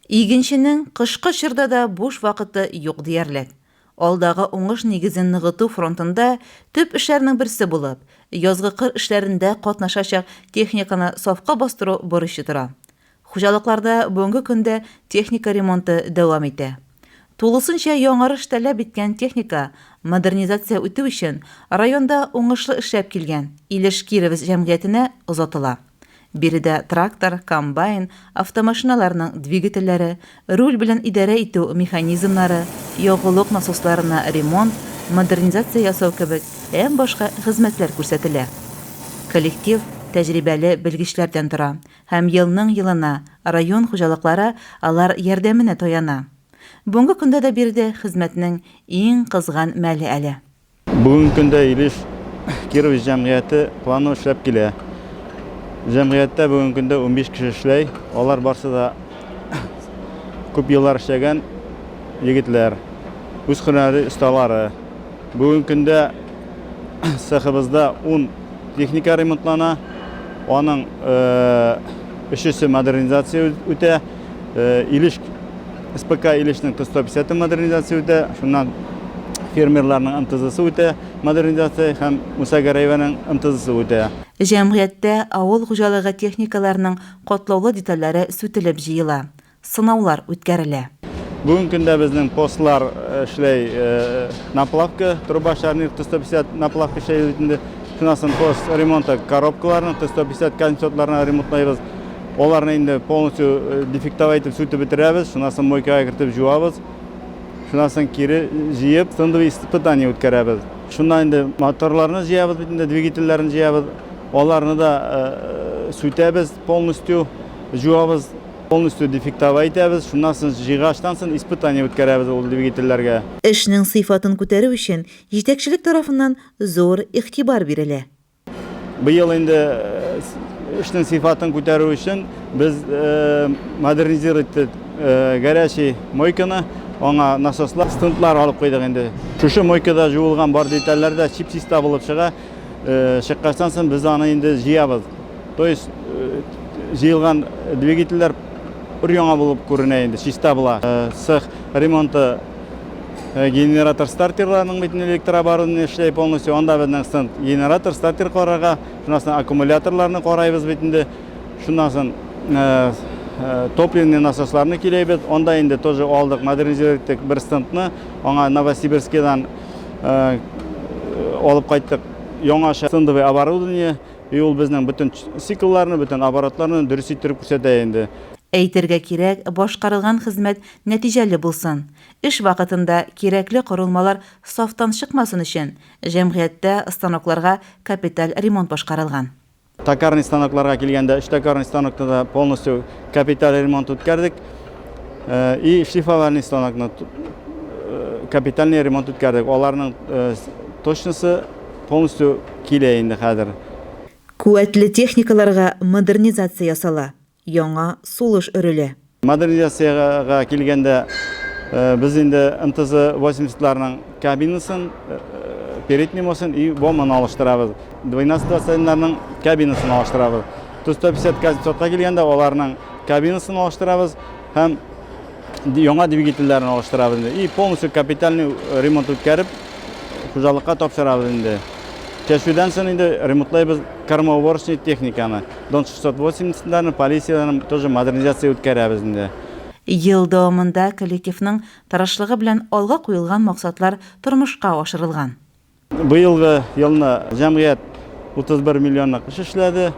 Игенченең кышкы чорда да буш вакыты юк диярлек. Алдагы уңыш нигезен ныгыту фронтында төп эшләрнең берсе булып, язгы кыр эшләрендә катнашачак техниканы сафка бастыру бурычы тора. Хуҗалыкларда бүгенге көндә техника ремонты дәвам итә. Тулысынча яңарыш таләп иткән техника модернизация үтү өчен районда уңышлы эшләп килгән Илеш-Кировец җәмгыятенә озатыла. Биредә трактор, комбайн, автомашиналарның двигательләре, руль белән идарә итү механизмнары, ягулык насосларына ремонт, модернизация ясау кебек һәм башка хезмәтләр күрсәтелә. Коллектив тәҗрибәле белгечләрдән тора һәм елның-елына район хуҗалыклары алар ярдәменә таяна. Бүгенге көндә дә биредә хезмәтнең иң кызган мәле әле. Бүгенге көндә Илеш Кирович җәмгыяте планы эшләп килә. Җәмгыятьтә бүгенге көндә 15 кеше эшләй. Алар барсы да күп еллар эшләгән егетләр, үз һөнәри осталары. Бүгенге көндә цехыбызда 10 техника ремонтлана, аның өчесе модернизация үтә. Илеш СПК Илешнең кыз 150 модернизация үтә, шуннан фермерларның МТЗсы үтә модернизация һәм Муса Гәрәеваның МТЗсы үтә. Җәмгыятьтә авыл хуҗалыгы техникаларының катлаулы детальләре сүтелеп җыела, сынаулар үткәрелә. Бүгенге көндә безнең постлар эшләй, наплавка, труба шарнир 150 наплавка эшләй бит инде, шуннан соң пост ремонты коробкаларның 150 консотларына ремонтлыйбыз. Аларны инде полностью дефектовать итеп сүтеп бетерәбез, шуннан соң мойкага кертеп җуабыз, шуннан соң кире җыеп, шундый испытание үткәрәбез. Шуннан инде моторларны җыябыз бит инде, двигательләрне җыябыз, аларны да сүтәбез полностью, җуабыз, полностью дефектовать итәбез, шуннан соң җыйгачтан соң испытание үткәрәбез ул двигательләргә. Эшнең сыйфатын күтәрү өчен җитәкчелек тарафыннан зур игътибар бирелә. Быел инде эшнең сыйфатын күтәрү өчен без модернизировать иттек горячий мойканы, аңа насослар, стендлар алып куйдык инде. Шушы мойкада жуылган бар детальләр дә чип-чиста булып чыга. Чыккачтан соң без аны инде җыябыз. То есть җыелган двигательләр өр-яңа булып күренә инде, чиста була. Цех ремонты Э, генератор стартерларының битен электрооборудование эшләй полностью анда безнең стенд генератор стартер карарга шуннан соң аккумуляторларны карайбыз бит инде шуннан соң э, э, топливный насосларны көйләйбез анда инде тоже алдык модернизировать иттек бер стендны аңа новосибирскидан алып кайттык яңаша стендовый оборудование и ул безнең бөтен циклларны бөтен оборотларны дөрес иттереп күрсәтә инде Әйтергә кирәк, башкарылган хезмәт Нәтиҗәле булсын. Эш вакытында кирәкле корылмалар сафтан чыкмасын өчен, җәмгыятьтә станокларга капиталь ремонт башкарылган. Токарный станокларга килгәндә, өч токарный станокта да полностью капиталь ремонт үткәрдек. И шлифовальный станокны капитальный ремонт үткәрдек. Аларның точносы полностью килә инде хәзер. Куәтле техникаларга модернизация ясала. Яңа сулыш өрелә. Модернизациягә килгәндә, без инде МТЗ 80 ларның кабинасын, переднемосын и боманы алыштырабыз. 12 20 ларның кабинасын алыштырабыз. Ту 150 казнецов ка килгәндә, аларның кабинасын алыштырабыз һәм яңа двигательләрен алыштырабыз инде. И полностью капитальный ремонт үткәреп, хуҗалыкка тапшырабыз инде. Чәчүдән сон инде ремонтлыйбыз кормоуборочный техниканы. Дон 680 данын полициядән тоже модернизация үткәрәбез инде. Ел дәвамында коллективның тырышлыгы белән алга куелган максатлар тормышка ашырылган. Быелгы елны җәмгыять 31 миллионлык эш эшләде.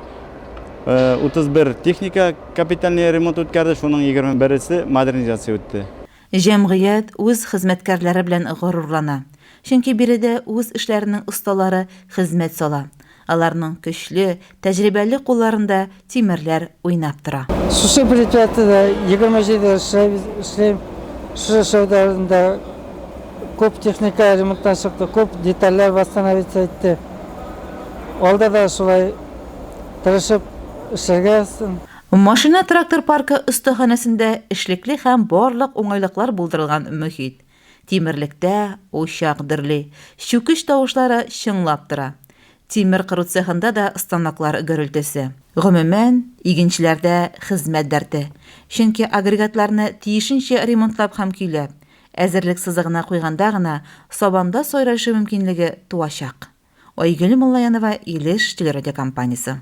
31 техника капитальный ремонт үткәрде, шуның 21 се модернизация үтте. Җәмгыять үз хезмәткәрләре белән горурлана, чөнки биредә үз эшләренең осталары хезмәт сала. Аларның көчле, тәҗрибәле кулларында тимерләр уйнап тора. Шушы предприятиедә егерме җиде ел эшлим. Шушы эшләүдә күп техника ремонттан чыкты, күп детальләр восстановиться итте. Алда да шулай тырышып эшләргә. Машина-трактор паркы остаханәсендә эшлекле һәм барлык уңайлыклар булдырылган мохит. Тимерлектә учак дөрли, чүкеч тавышлары чыңлап тора. Тимер кыру цехында да станоклар гөрелтесе. Гомумән, игенчеләрдә хезмәт дәрте, чөнки агрегатларны тиешенчә ремонтлап һәм көйләп, әзерлек сызыгына куйганда гына сабанда сайрашу мөмкинлеге туачак. Айгөл Муллаянова, Илеш телерадиокомпаниясе.